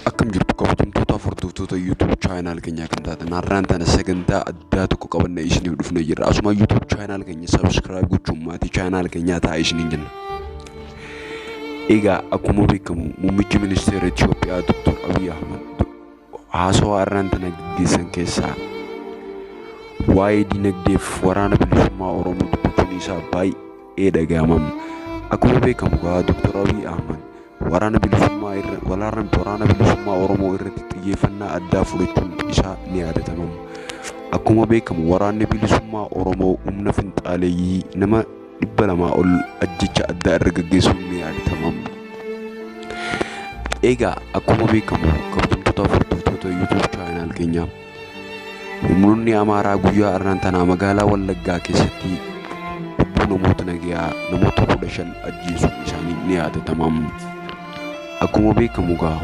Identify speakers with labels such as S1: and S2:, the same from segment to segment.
S1: akkam jirtu kabajamtoota hordoftoota YouTube chaayinaal keenyaa kan taatan har'aan tana sagantaa addaa tokko qabanne isiniif dhufne jirra asuma YouTube chaayinaal keenya subscribe gochuun maatii chaayinaal keenyaa ta'a isiniin jenna. Egaa akkuma beekamu muummichi ministeera Itoophiyaa Dr. Abiy Ahmad Haasawaa arraan tana gaggeessan keessaa waa'ee dinagdeef waraana bilisummaa Oromoo dubbachuun isaa baay'ee dhaga'amam. Akkuma beekamu gaa Dr. Abiy Ahmad waraana bilisummaa irra walaarran waraana bilisummaa Oromoo irratti xiyyeeffannaa addaa fudhachuun isaa ni yaadatamam. Akkuma beekamu waraanni bilisummaa Oromoo humna finxaaleeyyii nama dhibba lamaa ol ajjecha addaa irra gaggeessuun ni yaadatama. Egaa akkuma beekamu kabajamtoota hordoftoota YouTube chaanaal keenyaa humnoonni Amaaraa guyyaa arraan tanaa magaalaa Wallaggaa keessatti lubbuu namoota nagayaa namoota kudha shan ajjeesuun isaanii ni yaadatama. Akkuma beekamu egaa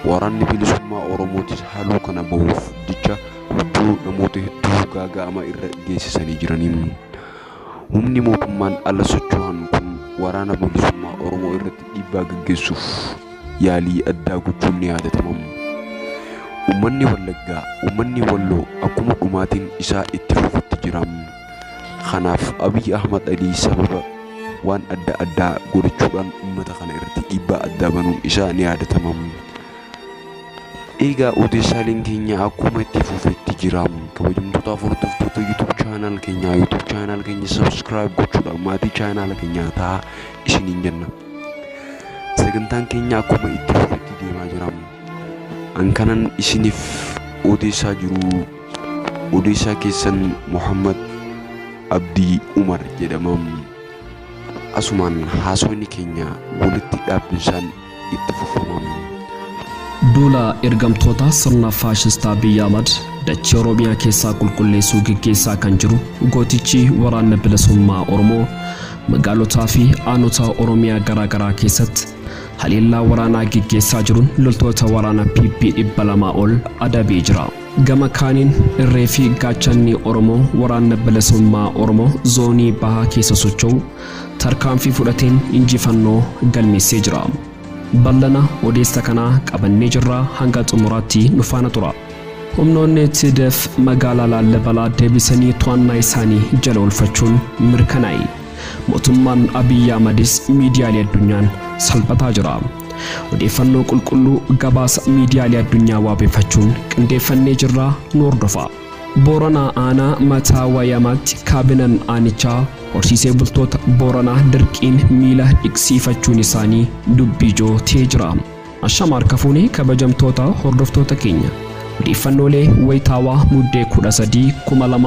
S1: waraanni bilisummaa Oromootis haaloo kana bahuuf jecha lubbuu namoota hedduu gaaga'ama irra geessisanii jiranii. Humni mootummaan ala socho'an kun Waraana Bilisummaa Oromoo irratti dhiibbaa gaggeessuuf yaalii addaa gochuun ni yaadatama. Ummanni Wallaggaa, ummanni Walloo akkuma dhumaatiin isaa itti fufutti jira. Kanaaf Abiy Ahmad Alii sababa waan adda addaa godhachuudhaan ummata kana irratti dhiibbaa addaa banuun isaa ni yaadatama. Egaa odeessaaleen keenya akkuma itti fufetti jira. Kabajamtoota hordoftoota YouTube channel keenyaa YouTube channel keenya subscribe gochuudhaan maatii channel keenyaa ta'a isiniin jenna. Sagantaan keenya akkuma itti fufetti deemaa jira. An kanan isiniif odeessaa jiru odeessaa keessan Muhammad Abdii Umar jedhama. Asumaan haasofni keenya walitti dhaabbinsaan itti fufama.
S2: Duula ergamtoota sirna faashistaa Abiy Ahmad dachee Oromiyaa keessaa qulqulleessuu geggeessaa kan jiru gootichi waraanna bilisummaa Oromoo magaalotaa fi aanota Oromiyaa garaa garaa keessatti haleellaa waraanaa geggeessaa jiruun loltoota waraana PP 200 ol adabee jira. Gama kaaniin irree fi gaachanni Oromoo waraanna bilisummaa Oromoo zoonii bahaa keessa socho'u tarkaanfii fudhateen injifannoo galmeessee jira. Ballana odeessa kanaa qabannee jirra hanga xumuraatti nu faana tura. Humnoonni TDF magaalaa Laallabalaa deebisanii to'annaa isaanii jala oolfachuun mirkanaa'e. Mootummaan Abiy Ahmadis miidiyaalee addunyaan salphataa jira. Odeeffannoo qulqulluu gabaasa miidiyaalee addunyaa waabeffachuun qindeeffannee jirra nu hordofaa. Booranaa Aanaa Mataa Wayamaatti Kaabinan Aanichaa Horsiisee Bultoota Booranaa Dirqiin Miila Dhiqsiifachuun Isaanii Dubbii Ijoo Ta'ee Jira. Ashama Harka Fuune Kabajamtoota Hordoftoota Keenya Odeeffannoolee Wayitaawaa Muddee 13, 2000.